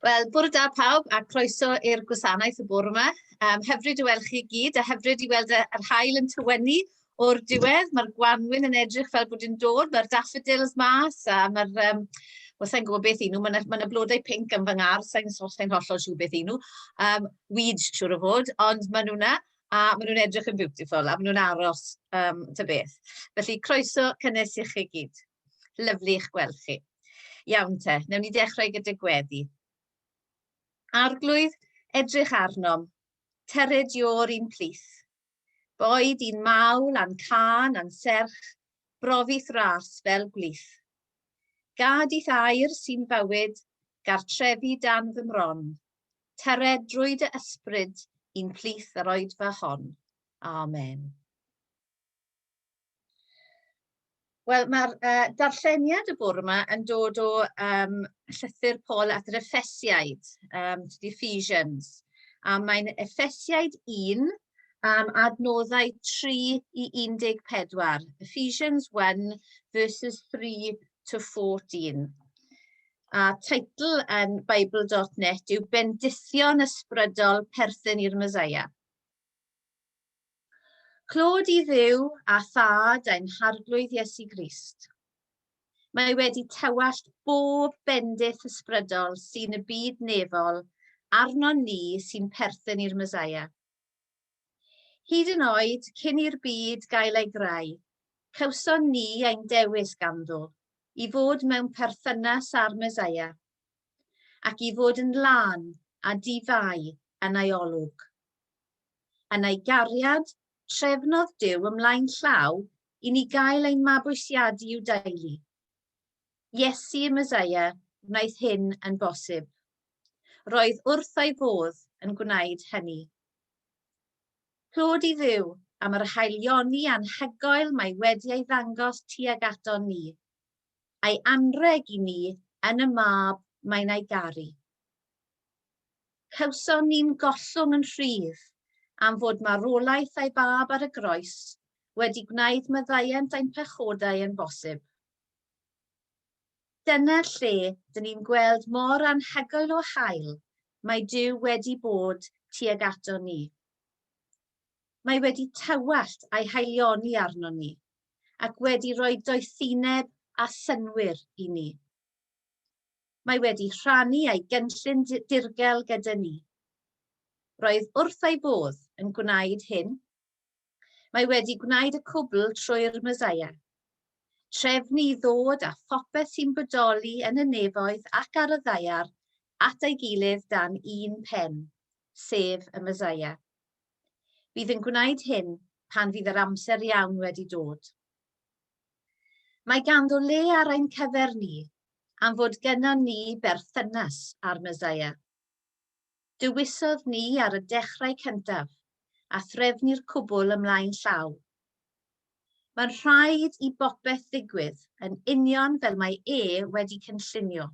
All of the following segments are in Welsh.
Wel, bore da pawb a croeso i'r gwasanaeth y bore yma. Um, hyfryd i weld chi gyd a hyfryd i weld yr hael yn tywennu o'r diwedd. Mae'r gwanwyn yn edrych fel bod yn dod, mae'r daffodils mas a mae'r... Um, Wel, sa'n gwybod beth i nhw, mae yna blodau pink yn fy ngar, sa'n sain hollol siw beth i nhw. Um, weeds, siwr o fod, ond maen nhw'na a maen nhw'n edrych yn beautiful a maen nhw'n aros um, ta beth. Felly, croeso cynnes i chi gyd. Lyfli eich gweld chi. Iawn te, newn ni dechrau gyda gweddi. Arglwydd, edrych arnom, tered i o'r un plith. Boed i'n mawl, a'n can, a'n serch, brofith ras fel gwlith. Gad i'th air sy'n bywyd, gartrefi dan fy mron. Tered drwy dy ysbryd i'n plith yr oedfa hon. Amen. Wel ma'r yy darlleniad y bore 'ma yn dod o yym llythyr Paul at yr Effesiaid yym to the Ephesians a mae'n Effesiaid 1 yym adnoddau 3 i 14. Ephesians 1 verses 3 to 14. A teitl yn bible.net yw Bendithion Ysbrydol Perthyn i'r Meseia. Clod i ddiw a thad ein harglwydd Iesu Grist. Mae wedi tewallt bob bendith ysbrydol sy'n y byd nefol arnon ni sy'n perthyn i'r Mesaia. Hyd yn oed cyn i'r byd gael ei greu, cawson ni ein dewis ganddo i fod mewn perthynas â'r Mesaia ac i fod yn lân a di-fai yn ei olwg. Yn ei gariad, trefnodd Duw ymlaen llaw i ni gael ein mabwysiadu i'w deulu. Iesu y Meseia wnaeth hyn yn bosib. Roedd wrth ei fodd yn gwneud hynny. Clod i Dduw am yr haelioni anhygoel mae wedi ei ddangos tuag aton ni, a'i anrheg i ni yn y Mab mae'n ei garu. Cawson ni'n gollwng yn rhydd am fod marwolaeth ei Fab ar y Groes wedi gwneud maddeuant ein pechodau yn bosib. Dyna lle dyn ni'n gweld mor anhygoel o hael mae Duw wedi bod tuag aton ni. Mae wedi tywallt a'i haelioni arnon ni, ac wedi rhoi doethineb a synnwyr i ni. Mae wedi rhannu ei gynllun dirgel gyda ni. Roedd wrth ei fodd yn gwneud hyn. Mae wedi gwneud y cwbl trwy'r Meseia. Trefnu i ddod â phopeth sy'n bodoli yn y nefoedd ac ar y ddaear at ei gilydd dan un pen, sef y Meseia. Bydd yn gwneud hyn pan fydd yr amser iawn wedi dod. Mae ganddo le ar ein cyfer ni am fod gennon ni berthynas â'r Meseia. Dewisodd ni ar y dechrau cyntaf, a threfnu'r cwbl ymlaen llaw. Mae'n rhaid i bopeth ddigwydd yn union fel mae e wedi cynllunio.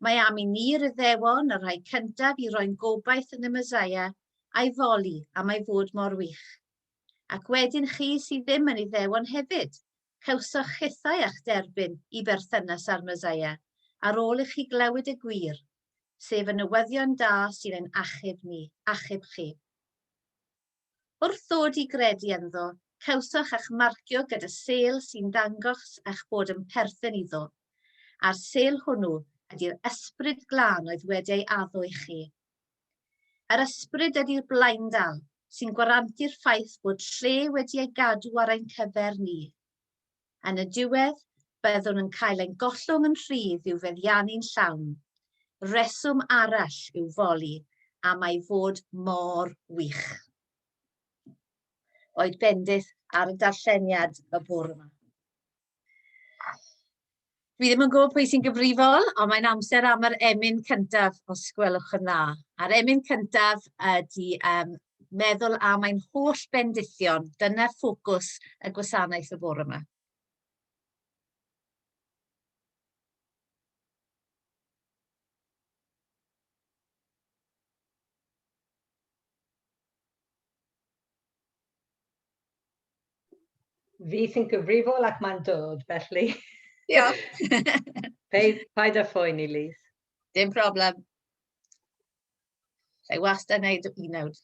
Mae am i ni'r Iddewon y rhai cyntaf i roi'n gobaith yn y Meseia a'i foli am ei fod mor wych. Ac wedyn chi sydd ddim yn Iddewon hefyd, cawsoch hithau a'ch derbyn i berthynas â'r Meseia ar ôl i chi glywed y gwir, sef y newyddion da sy'n ein achub ni, achub chi. Wrth ddod i gredu ynddo, cawsoch eich marcio gyda sêl sy'n ddangos eich bod yn perthyn iddo, a'r sêl hwnnw ydy'r Ysbryd Glân oedd wedi ei addo i chi. Yr ysbryd ydi'r blaendal sy'n gwarantu'r ffaith bod lle wedi ei gadw ar ein cyfer ni. Yn y diwedd, byddwn yn cael ein gollwng yn rhydd i'w feddiannu'n llawn. Rheswm arall i'w foli am ei fod mor wych. Oed bendith ar y darlleniad y bore 'ma. Dwi ddim yn gwybod pwy sy'n gyfrifol, ond mae'n amser am yr emyn cyntaf, os gwelwch yn dda. A'r emyn cyntaf ydy um, meddwl am ein holl bendithion. Dyna ffocws y gwasanaeth y bore yma. Fi sy'n gyfrifol ac mae'n dod, felly. Diolch. Paid, paid â phoeni, Liz. Dim problem. Lle wastad yn neud y nawd.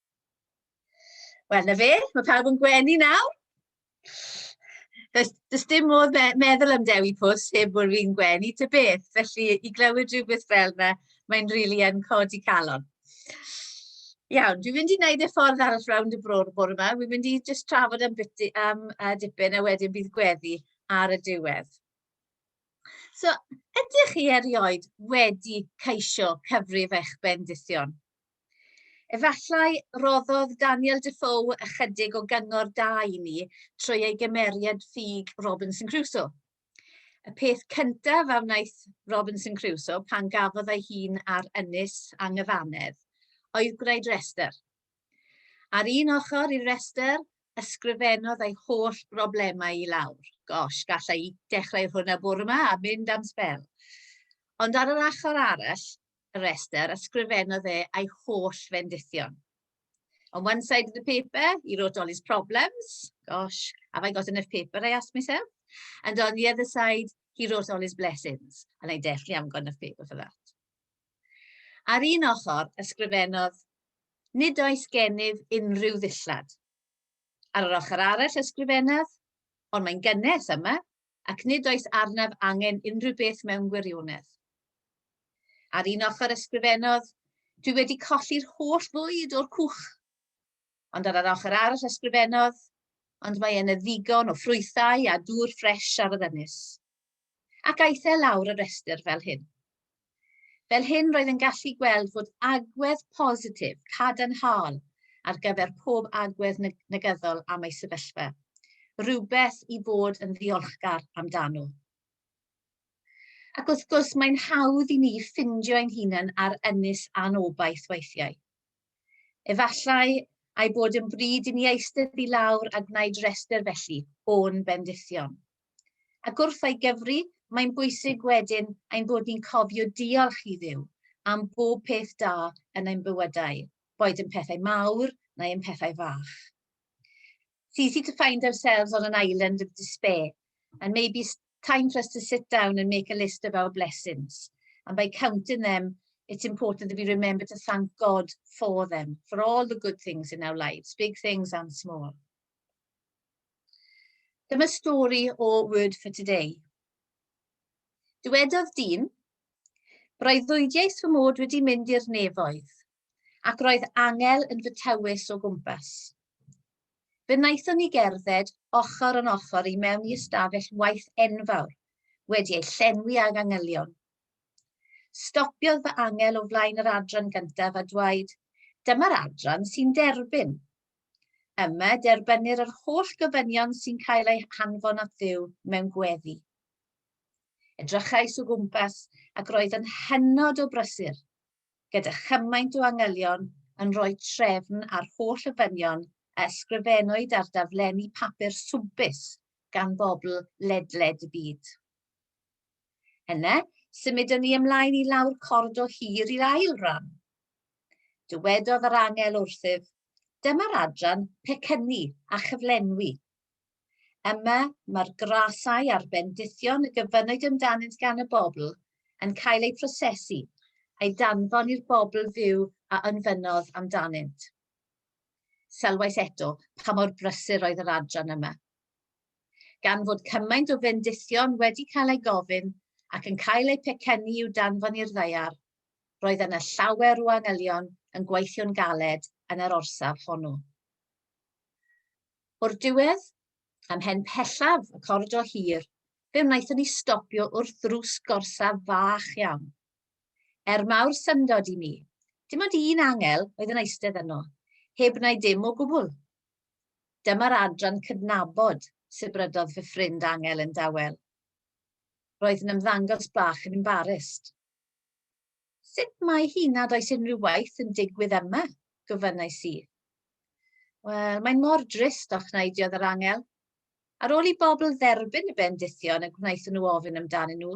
Wel, na fe, mae pawb yn gwenu nawr. Does, does dim modd me meddwl am Dewi Pws heb bod fi'n gwenu ty beth, felly i glywed rhywbeth fel yna, mae'n rili really yn codi calon. Iawn, dwi'n mynd i wneud y ffordd arall rownd y bro'r bore yma. Dwi'n mynd i just trafod am, biti, am uh, dipyn a wedyn bydd gweddi ar y diwedd. So, ydych chi erioed wedi ceisio cyfrif eich bendithion? Efallai roddodd Daniel Defoe ychydig o gyngor da i ni trwy ei gymeriad ffug Robinson Crusoe. Y peth cyntaf a wnaeth Robinson Crusoe pan gafodd ei hun ar ynys anghyfannedd oedd gwneud restr. Ar un ochr i'r restr, ysgrifennodd ei holl broblemau i lawr. Gosh, gallai i dechrau hwnna bore yma a mynd am sbel. Ond ar yr achor arall, y rhestr, ysgrifennodd e ei holl fendithion. On one side of the paper, he wrote all his problems. Gosh, have I got enough paper, I asked myself. And on the other side, he wrote all his blessings. And I definitely haven't got enough paper for that. Ar un ochr, ysgrifennodd, nid oes gennyf unrhyw ddillad. Ar yr ochr arall ysgrifennodd, ond mae'n gynnes yma, ac nid oes arnaf angen unrhyw beth mewn gwirionedd. Ar un ochr ysgrifennodd, Dwi wedi colli'r holl fwyd o'r cwch. Ond ar yr ochr arall ysgrifennodd, ond mae yna ddigon o ffrwythau a dŵr ffres ar yr ynys. Ac aeth e lawr y rhestr fel hyn. Fel hyn roedd yn gallu gweld fod agwedd positif cadarnhaol ar gyfer pob agwedd negyddol am ei sefyllfa, rhywbeth i fod yn ddiolchgar amdano. Ac wrth gwrs mae'n hawdd i ni ffindio ein hunain ar ynys anobaith weithiau. Efallai a'i bod yn bryd i ni eistedd i lawr a gwneud rhestr felly o'n bendithion. Ac wrth ei gyfri, mae'n bwysig wedyn ein bod ni'n cofio diolch i Dduw am bob peth da yn ein bywydau, boed yn pethau mawr neu yn pethau fach. It's easy to find ourselves on an island of despair, and maybe it's time for us to sit down and make a list of our blessings. And by counting them, it's important that we remember to thank God for them, for all the good things in our lives, big things and small. Dyma stori o Word for Today. Dywedodd dyn, Breuddwydiais fy mod wedi mynd i'r nefoedd, ac roedd angel yn fy tywys o gwmpas. Fe wnaethon ni gerdded ochr yn ochr i mewn i ystafell waith enfawr, wedi ei llenwi ag angylion. Stopiodd fy angel o flaen yr adran gyntaf a dweud, dyma'r adran sy'n derbyn, Yma, derbynir yr holl gofynion sy'n cael eu hanfon at Dduw mewn gweddi. Edrychais o gwmpas ac roedd yn hynod o brysur, gyda chymaint o angylion yn rhoi trefn ar holl ofynion a ysgrifennwyd ar daflenni papur swmpus gan bobl ledled y byd. Yna, symudwn ni ymlaen i lawr cordol hir i'r ail ran. Dywedodd yr angel wrthyf, Dyma'r adran pecynnu a chyflenwi. Yma mae'r grasau a'r bendithion y gyfynnwyd amdanynt gan y bobl yn cael eu prosesu a'i danfon i'r bobl fyw a ynfynnodd amdanynt. Sylwais eto pa mor brysur oedd yr adran yma. Gan fod cymaint o fendithion wedi cael eu gofyn ac yn cael eu pecynnu i'w danfon i'r ddaear, roedd yna llawer o angylion yn gweithio'n galed yn yr orsaf honno. O'r diwedd, ymhen pellaf y coridor hir, fe wnaethon ni stopio wrth ddrws gorsaf fach iawn. Er mawr syndod i mi, dim ond un angel oedd yn eistedd yno, heb wneud dim o gwbl. Dyma'r adran cydnabod, sibrydodd fy ffrind angel yn dawel. Roedd yn ymddangos bach yn embarrased. Sut mae hi nad oes unrhyw waith yn digwydd yma? gofynnais i. Wel, mae'n mor drist, ochneiddiodd yr angel. Ar ôl i bobl dderbyn y bendithion y gwnaethon nhw ofyn amdanyn nhw,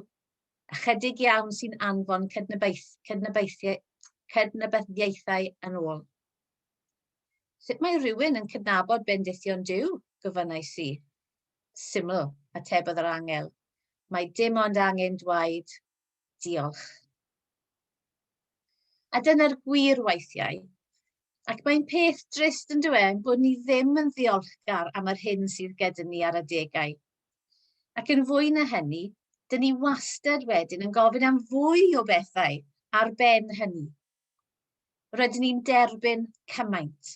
ychydig iawn sy'n anfon cydnabaeth, cydnabaethiau, cydnabyddiaethau yn ôl. Sut mae rhywun yn cydnabod bendithion Dyw? gofynnais i. Syml, atebodd yr angel. Mae dim ond angen dwaed Diolch. A dyna'r gwir weithiau. Ac mae'n peth drist yn dywe bod ni ddim yn ddiolchgar am yr hyn sydd gyda ni ar adegau. Ac yn fwy na hynny, dyn ni wastad wedyn yn gofyn am fwy o bethau ar ben hynny. Rydyn ni'n derbyn cymaint.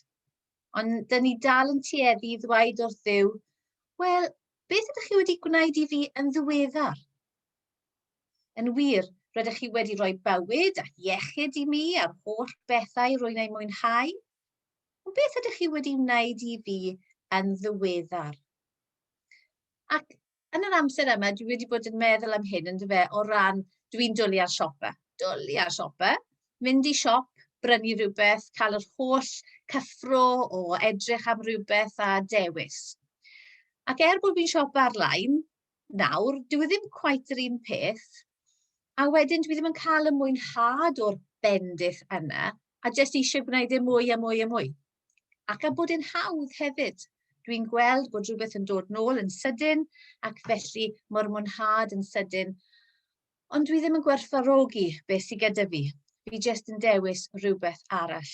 Ond dyn ni dal yn tueddu i ddweud wrth ddew, wel, beth ydych chi wedi gwneud i fi yn ddiweddar? Yn wir, rydych chi wedi rhoi bywyd a iechyd i mi a'r holl bethau rwy'n eu mwynhau. Ond beth ydych chi wedi wneud i fi yn ddiweddar? Ac yn yr amser yma, dwi wedi bod yn meddwl am hyn, yn dyfe, o ran, dwi'n dwlu ar siopa. Dwlu ar siopa. Mynd i siop, brynu rhywbeth, cael yr holl cyffro o edrych am rhywbeth a dewis. Ac er bod fi'n siop ar-lein, nawr, dyw e ddim cweit yr un peth, a wedyn dwi ddim yn cael y mwynhad o'r bendith yna, a jyst eisiau gwneud e mwy a mwy a mwy. Ac a bod e'n hawdd hefyd. Dwi'n gweld bod rhywbeth yn dod nôl yn sydyn, ac felly mae'r mwynhad yn sydyn. Ond dwi ddim yn gwerthfarogi beth sydd gyda fi. Fi jyst yn dewis rhywbeth arall.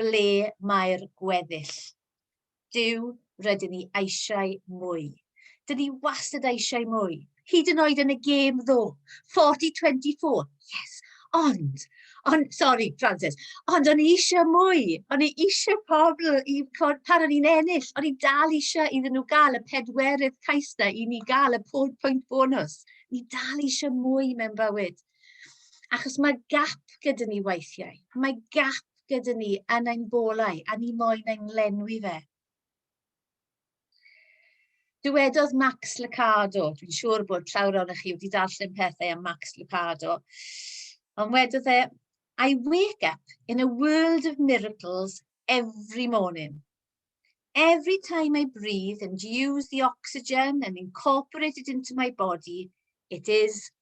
Ble mae'r gweddill? Duw, rydyn ni eisiau mwy. Dyn ni wastad eisiau mwy. Hyd yn oed yn y gêm ddo. 40-24. Yes. Ond, ond, sorry, Francis, ond o'n i eisiau mwy. O'n i eisiau pobl i, pan o'n i'n ennill, o'n i dal eisiau iddyn nhw gael y pedwerydd cais na i ni gael y pwynt bonus. Ni dal eisiau mwy mewn bywyd. Achos mae gap gyda ni weithiau. Mae gap gyda ni yn ein bolau a ni moyn ein lenwi fe. Dywedodd Max Lucado, dwi'n siŵr bod llawr o'n chi wedi darllen pethau am Max Lucado, ond wedodd e, I wake up in a world of miracles every morning. Every time I breathe and use the oxygen and incorporate it into my body, it is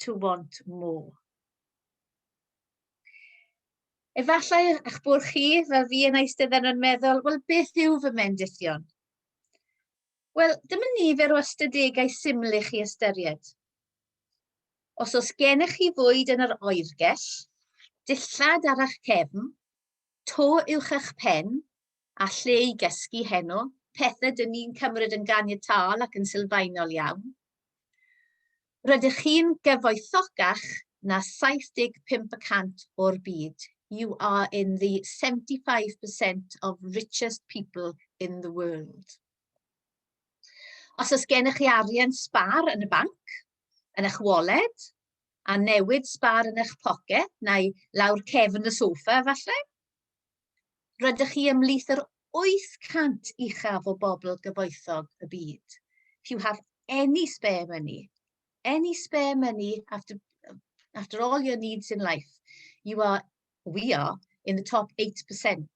to want more. Efallai eich bod chi, fel fi yn eistedden yn meddwl, wel beth yw fy mendithion? Wel, dyma nifer o ystadegau syml i chi ystyried. Os oes gennych chi fwyd yn yr oergell, dillad ar eich cefn, to uwch eich pen, a lle i gysgu heno, pethau dyn ni'n cymryd yn ganiataol ac yn sylfaenol iawn. Rydych chi'n gyfoethocach na 75 y cant o'r byd. You are in the 75% of richest people in the world. Os oes gennych chi arian sbar yn y banc, yn eich wallet, a newid sbar yn eich poced, neu lawr cefn y sofa efallai, Rydych chi ymhlith yr 800 uchaf o bobl gyfoethog y byd. If you have any spare money, any spare money after, after all your needs in life, you are, we are, in the top 8%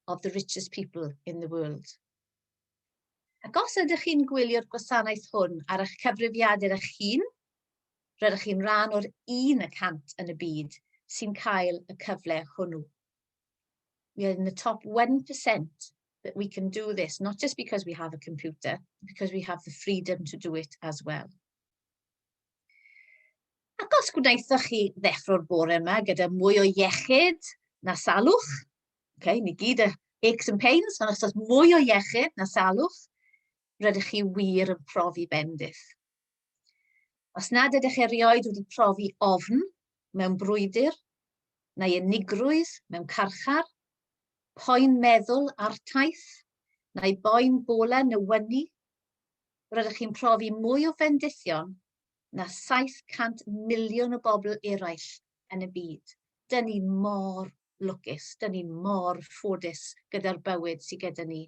of the richest people in the world. Ac os ydych chi'n gwylio'r gwasanaeth hwn ar eich cyfrifiadur eich hun, rydych chi'n rhan o'r 1% yn y byd sy'n cael y cyfle hwnnw. we are in the top 1% that we can do this, not just because we have a computer, because we have the freedom to do it as well. Ac os gwnaethoch chi ddeffro'r bore yma gyda mwy o iechyd na salwch, okay, ni gyd y aches and pains, ond os oes mwy o iechyd na salwch, rydych chi wir yn profi bendith. Os nad ydych erioed wedi profi ofn mewn brwydr, neu unigrwydd mewn carchar, poen meddwl artaith, neu boen bolau newynu, rydych chi'n profi mwy o fendithion na 700 miliwn o bobl eraill yn y byd. Dyn ni mor lwcus, dyn ni mor ffodus gyda'r bywyd sydd gyda ni.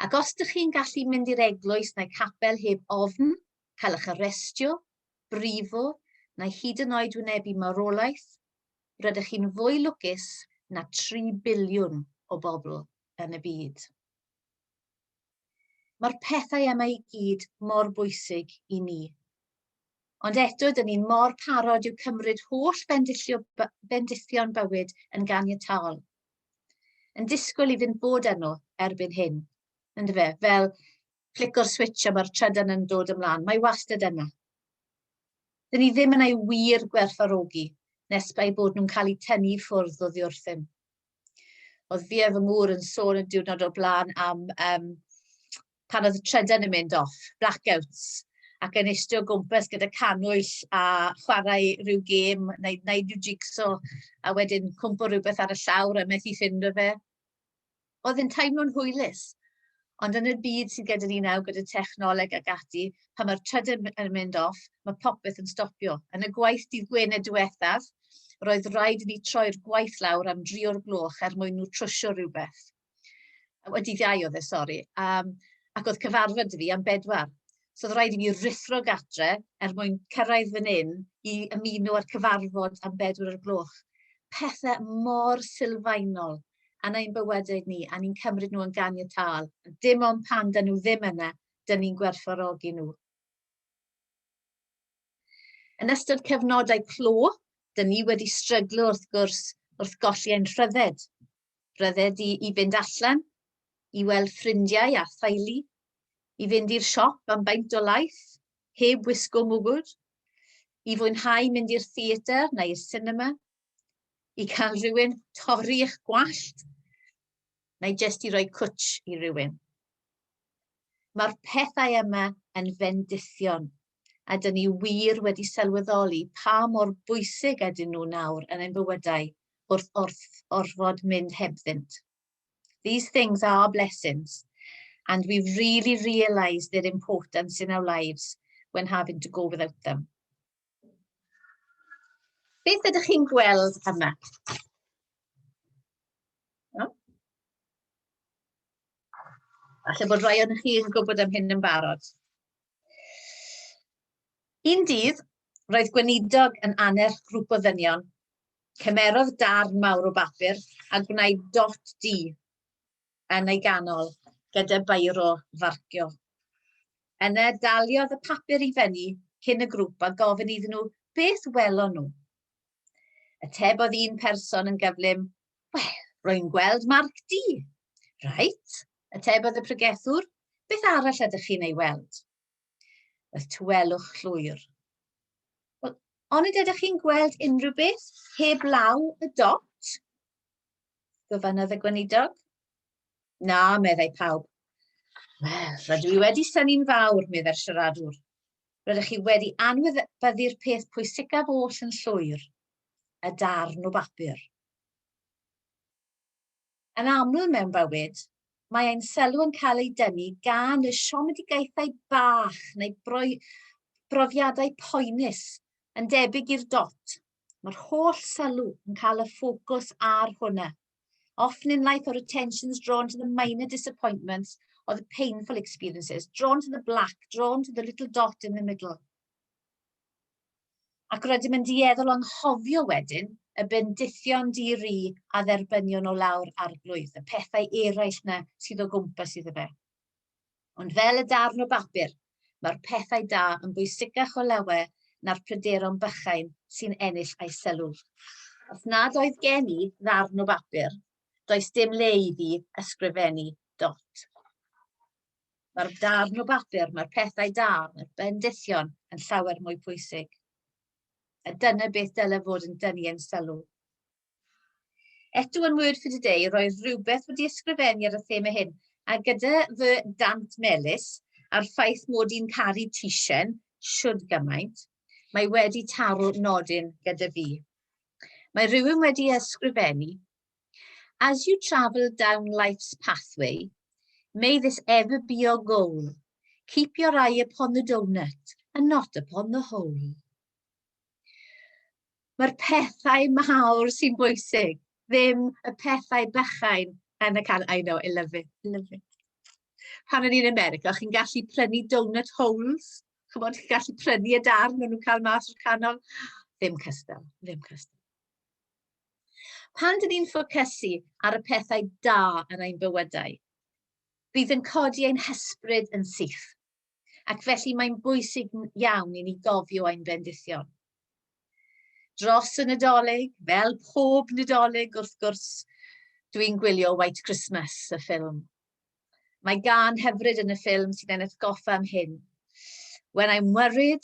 Ac os dych chi'n gallu mynd i'r eglwys neu capel heb ofn cael eich arestio, brifo, neu hyd yn oed wynebu marwolaeth, rydych chi'n fwy lwcus na tri biliwn o bobl yn y byd. Mae'r pethau yma i gyd mor bwysig i ni. Ond eto, dyn ni mor parod i'w cymryd holl bendithio, bendithion bywyd yn ganiataol. Yn disgwyl i fynd bod arno erbyn hyn, yn dyfe? Fel flico'r switch a mae'r trydan yn dod ymlaen. Mae wastad yna. Dyn ni ddim yn ei wir gwerthfarogi nes bai bod nhw'n cael eu tynnu i ffwrdd o ddiwrthyn. Oedd fi a fy ngŵr yn sôn y diwrnod o'r blaen am um, pan oedd y trydan yn mynd off, blackouts, ac yn eistedd o gwmpas gyda canwyll a chwarae rhyw gêm, neu wneud rhyw jigsaw, a wedyn cwmpo rhywbeth ar y llawr a methu ffynd o fe. Oedd yn teimlo'n hwylus. Ond yn y byd sydd gyda ni nawr, gyda technoleg ac ati, pan mae'r trydan yn mynd off, mae popeth yn stopio. Yn y gwaith dydd Gwener diwethaf, roedd rhaid i ni troi'r gwaith lawr am dri o'r gloch er mwyn nhw trwsio rhywbeth. Wedi ddiau oedd e, sori. Um, ac oedd cyfarfod fi am bedwar. So oedd rhaid i mi rithro gatre er mwyn cyrraedd fan hyn i ymuno â'r cyfarfod am bedwar o'r gloch. Pethau mor sylfaenol yn ein bywydau ni, a ni'n cymryd nhw yn gan y tal. Dim ond pan dyn nhw ddim yna, dyn ni'n gwerthfawrogi nhw. Yn ystod cyfnodau clo, dyn ni wedi stryglo wrth gwrs wrth golli ein rhydded. Rhyddid i i fynd allan, i weld ffrindiau a theulu, i fynd i'r siop am baint o laeth, heb wisgo mwgwd, i fwynhau mynd i'r theatr neu i'r sinema, i cael rhywun torri eich gwallt, neu jest i roi cwtsh i rywun. Mae'r pethau yma yn fendithion a dyn ni wir wedi sylweddoli pa mor bwysig ydyn nhw nawr yn ein bywydau wrth wrth orfod mynd hebddynt. These things are blessings, and we've really realised their importance in our lives when having to go without them. Beth ydych chi'n gweld yma? No? Alla bod rhai o'n chi'n gwybod am hyn yn barod. Un dydd, roedd gweinidog yn annerch grŵp o ddynion. Cymerodd darn mawr o bapur a gwnaed dot du yn ei ganol gyda beiro farcio. Yna daliodd y papur i fenni cyn y grŵp a gofyn iddyn nhw beth welon nhw. Atebodd un person yn gyflym, Wel, rwy'n gweld marc du. Reit, atebodd y pregethwr, beth arall ydych chi'n ei weld? Roedd tywelwch llwyr. Wel, onid ydych chi'n gweld unrhyw beth heb law y dot? Gofynodd y gweinidog. Na, meddai pawb. Wel, rydw i wedi syni'n fawr, meddai'r siaradwr. Rydych chi wedi anwybyddu'r peth pwysicaf oll yn llwyr. y darn o bapur. Yn aml mewn bywyd, mae ein sylw yn cael ei dynnu gan y siomedigaethau bach neu brofiadau poenus, yn debyg i'r dot. Mae'r holl sylw yn cael y ffocws ar hwnna. Often in life our attention's drawn to the minor disappointments or the painful experiences, drawn to the black, drawn to the little dot in the middle. Ac rydym yn dueddol o anghofio wedyn y bendithion di-ri a dderbynion o lawr arglwydd, y pethau eraill 'na sydd o gwmpas iddo fe. Ond fel y darn o bapur, mae'r pethau da yn bwysicach o lawer na'r pryderon bychain sy'n ennill ei sylw. Os nad oedd gen i ddarn o bapur, does dim le i fi ysgrifennu dot. Mae'r darn o bapur, mae'r pethau da, mae'r bendithion yn llawer mwy pwysig. A dyna beth dylai fod yn dynnu ein sylw. Eto yn Word for Today, roedd rhywbeth wedi ysgrifennu ar y thema hyn, a gyda fy dant melys a'r ffaith mod i'n caru tisen siwrd gymaint, mae wedi taro nodyn gyda fi. Mae rhywun wedi ysgrifennu, As you travel down life's pathway, may this ever be your goal. Keep your eye upon the donut and not upon the hole. Mae'r pethau mawr sy'n bwysig, ddim y pethau bychain yn y can. I know, I love it, I love it. Pan o'n i'n America, chi'n gallu prynu donut holes. Chymod, chi'n gallu prynu y darn maen nhw'n cael mas o'r canol. Ddim cystal, ddim cystal. Pan dyn ni'n ffocysu ar y pethau da yn ein bywydau, bydd yn codi ein hysbryd yn syth, ac felly mae'n bwysig iawn i ni gofio ein bendithion. Dros y Nadolig, fel pob Nadolig wrth gwrs, dwi'n gwylio White Christmas, y ffilm. Mae gan hyfryd yn y ffilm sy'n ennill goffa am hyn. When I'm worried,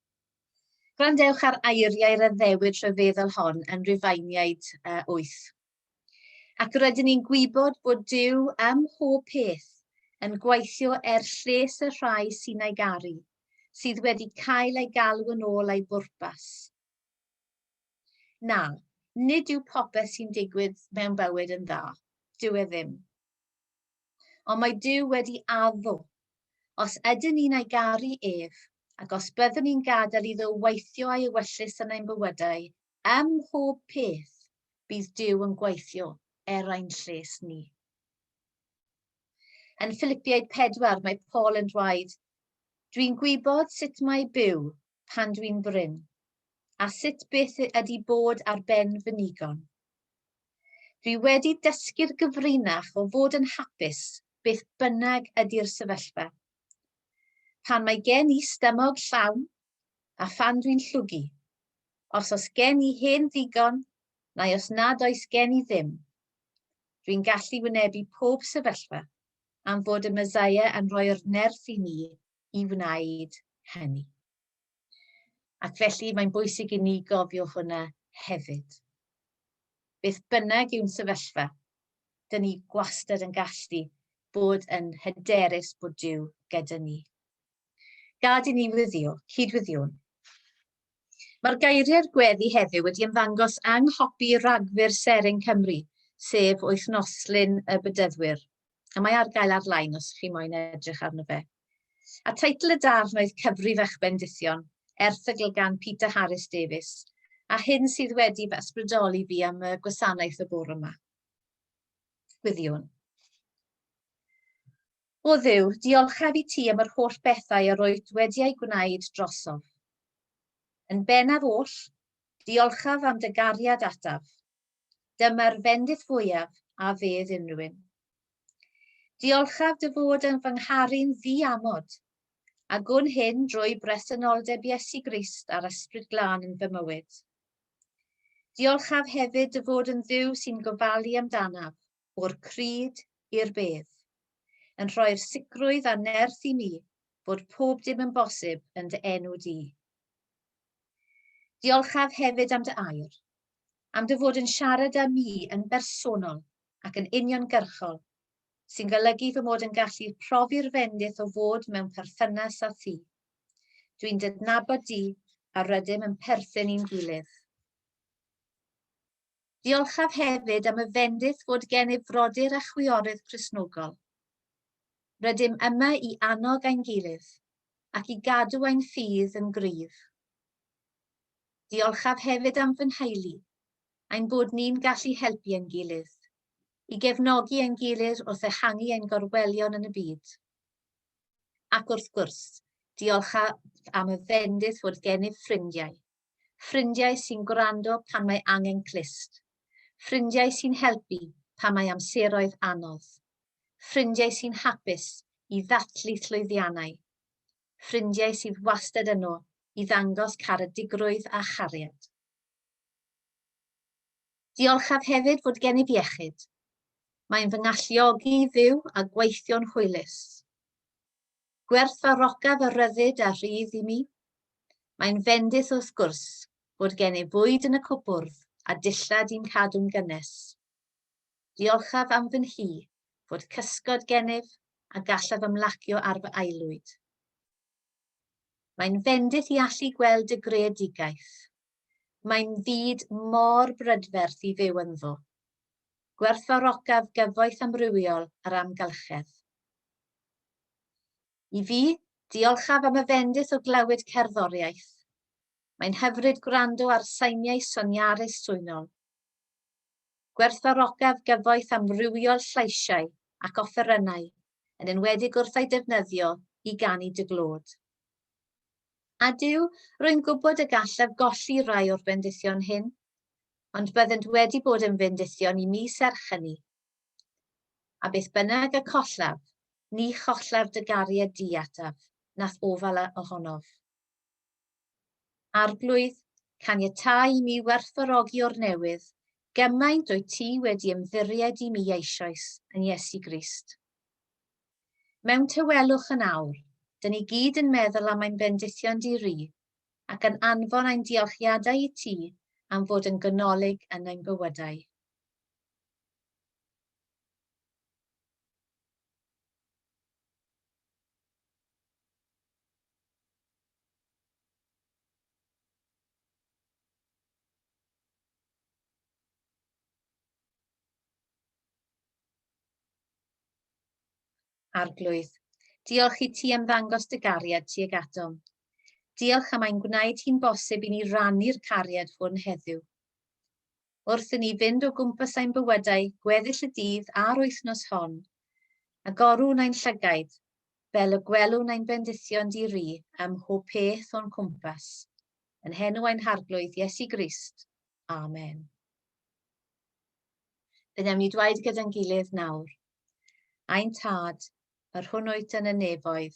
Gwrandewch ar eiriau'r addewid rhyfeddol hon yn Rufeiniaid 8. Ac rydyn ni'n gwybod bod Duw ym mhob peth yn gweithio er lles y rhai sy'n ei garu, sydd wedi cael ei galw yn ôl a'i bwrpas. Na, nid yw popeth sy'n digwydd mewn bywyd yn dda. Dyw e ddim. Ond mae Duw wedi addo. Os ydyn ni'n ei garu ef, ac os byddwn ni'n gadael iddo weithio a'i ewyllys yn ein bywydau, ym mhob peth, bydd Duw yn gweithio er ein lles ni. Yn Philippiaid 4, mae Paul yn dweud, Dwi'n gwybod sut mae byw pan dwi'n brin, a sut byth ydi bod ar ben fy nigon. Dwi wedi dysgu'r gyfrinach o fod yn hapus beth bynnag ydi'r sefyllfa. Pan mae gen i stymog llawn a phan dwi'n llwgu, os os gen i hen ddigon neu os nad oes gen i ddim, dwi'n gallu wynebu pob sefyllfa am fod y Mesaia yn rhoi'r nerth i ni i wneud hynny. Ac felly mae'n bwysig i ni gofio hwnna hefyd. Beth bynnag yw'n sefyllfa, dyn ni gwastad yn gallu bod yn hyderus bod Dyw gyda ni. Gad i ni wyddio, cydwyddiwn. Mae'r geiriau'r gweddi heddiw wedi ymddangos yng nghopi ragfyr Seren Cymru, sef Wythnoslun y Bedyddwyr. a mae ar gael ar-lein os chi moyn edrych arno fe. A teitl y darn oedd Cyfrif eich Bendithion, erthygl gan Peter Harris Davies, a hyn sydd wedi fy ysbrydoli fi am y gwasanaeth y bore yma. Gwyddiwn. O ddiw, diolchaf i ti am yr holl bethau yr oed wedi ei gwneud drosof. Yn bennaf oll, diolchaf am dy gariad ataf, Dyma'r fendith fwyaf a fedd unrhywun. Diolchaf dy fod yn fy ngharu'n ddi-amod, a gwn hyn drwy bresenoldeb Iesu Grist a'r Ysbryd Glân yn fy mywyd. Diolchaf hefyd dy fod yn Dduw sy'n gofalu amdanaf, o'r crud i'r bedd, yn rhoi'r sicrwydd a nerth i mi bod pob dim yn bosib yn dy enw di. Diolchaf hefyd am dy air, am dy fod yn siarad â mi yn bersonol ac yn uniongyrchol, sy'n golygu fy mod yn gallu profi'r fendith o fod mewn perthynas â thi. Dwi'n dydnabod di a rydym yn perthyn i'n gilydd. Diolchaf hefyd am y fendith fod gennyf frodyr a chwiorydd Cristnogol. Rydym yma i annog ein gilydd ac i gadw ein ffydd yn gryf. Diolchaf hefyd am fy nheulu, ein bod ni'n gallu helpu ein gilydd, i gefnogi ein gilydd wrth ehangu ein gorwelion yn y byd. Ac wrth gwrs, diolchaf am y fendith fod gennyf ffrindiau, ffrindiau sy'n gwrando pan mae angen clust, ffrindiau sy'n helpu pan mae amseroedd anodd, ffrindiau sy'n hapus i ddathlu llwyddiannau, ffrindiau sydd wastad yno i ddangos caredigrwydd a chariad. Diolchaf hefyd fod gennyf iechyd. Mae'n fy ngalluogi i fyw a gweithio'n hwylus. Gwerthfawrocaf y rhyddid a rhydd i mi. Mae'n fendith wrth gwrs fod gennyf fwyd yn y cwpwrdd a dillad i'n cadw'n gynnes. Diolchaf am fy nhŷ, fod cysgod gennyf, a gallaf ymlacio ar fy aelwyd. Mae'n fendith i allu gweld dy greadigaeth. Mae'n fyd mor brydferth i fyw ynddo. Gwerthfawrocaf gyfoeth amrywiol yr amgylchedd. I fi, diolchaf am y fendith o glywed cerddoriaeth. Mae'n hyfryd gwrando ar sainiau soniarus swynol. Gwerthfawrogaf gyfoeth amrywiol llais-iau ac offerynnau, yn enwedig wrth ei defnyddio i ganu dy glod. A Duw, rwy'n gwybod y gallaf golli rhai o'r bendithion hyn, ond byddent wedi bod yn fendithion i mi serch hynny. A beth bynnag y collaf, ni chollar dy gariad di ataf, na'th ofal ohonof. Arglwydd, caniatáu i mi werthfawrogi o'r newydd, gymaint wyt ti wedi ymddiried i mi eisoes, yn Iesu Grist. Mewn tawelwch yn awr, dyn ni gyd yn meddwl am ein bendithion di-ri, ac yn anfon ein diolchiadau i ti am fod yn ganolig yn ein bywydau. Arglwydd, diolch i ti am ddangos dy gariad tuag atom. Diolch am ein gwneud hi'n bosib i ni rannu'r cariad hwn heddiw. wrth i ni fynd o gwmpas ein bywydau gweddill y dydd a'r wythnos hon, a gorwn ein llygaid, fel y gwelwn ein bendithion di-ri ym mhob peth o'n cwmpas, yn henw ein Harglwydd Iesu Grist. Amen. Fe wnawn ni dweud gyda'n gilydd nawr, Ein Tad, yr hwn wyt yn y nefoedd,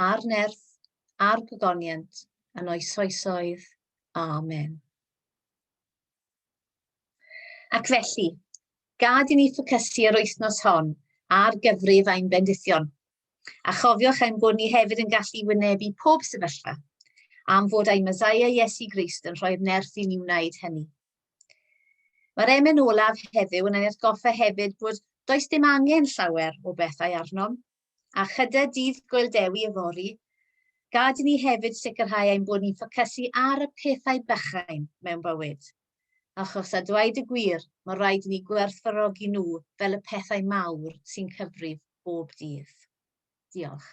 a'r nerth, a'r gogoniant, yn oesoesoedd. Amen. Ac felly, gad i ni ffocysu yr wythnos hon ar gyfrif ein bendithion. A chofiwch ein bod ni hefyd yn gallu wynebu pob sefyllfa, am fod ein Messiah Iesu Grist yn rhoi'r nerth i ni wneud hynny. Mae'r emen olaf heddiw yn ein atgoffa hefyd bod does dim angen llawer o bethau arnom, a chyda Dydd Gŵyl Dewi yfory, gad i ni hefyd sicrhau ein bod ni'n ffocysu ar y pethau bychain mewn bywyd. Achos a dweud y gwir, mae rhaid i ni gwerthfawrogi nhw fel y pethau mawr sy'n cyfrif bob dydd. Diolch.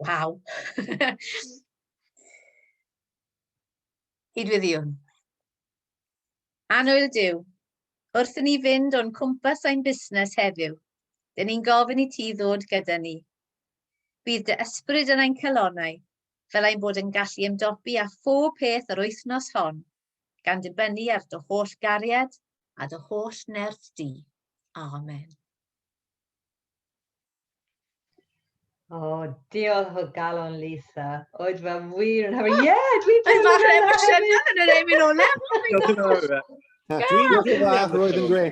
Waw! Cydwyddiwn. Anwyl Dyw, wrth i ni fynd o'n cwmpas ein busnes heddiw, dyn ni'n gofyn i ti ddod gyda ni. Bydd dy ysbryd yn ein calonau fel ein bod yn gallu ymdopi â phob peth yr wythnos hon, gan ddibynnu ar dy holl gariad a dy holl nerth di. Amen. O, oh, diolch o galon, Lisa. Oedd fe wir yn hyfryd. Ie, dwi'n teimlo fel hefyd. Oedd fach yn emosiynol yn yr emyn o lefel. Dwi'n gwybod dda, roedd yn gwe.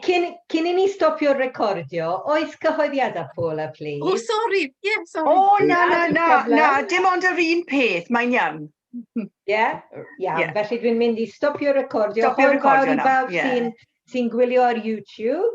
Cyn i ni stopio recordio, oes cyhoeddiadau Paul a plis? O, sori, ie, sori. O, na, na, na, na, dim ond yr un peth, mae'n iawn. Ie, iawn, felly dwi'n mynd i stopio recordio. Stopio recordio nawr, ie. Hwyl fawr i bawb sy'n gwylio ar YouTube.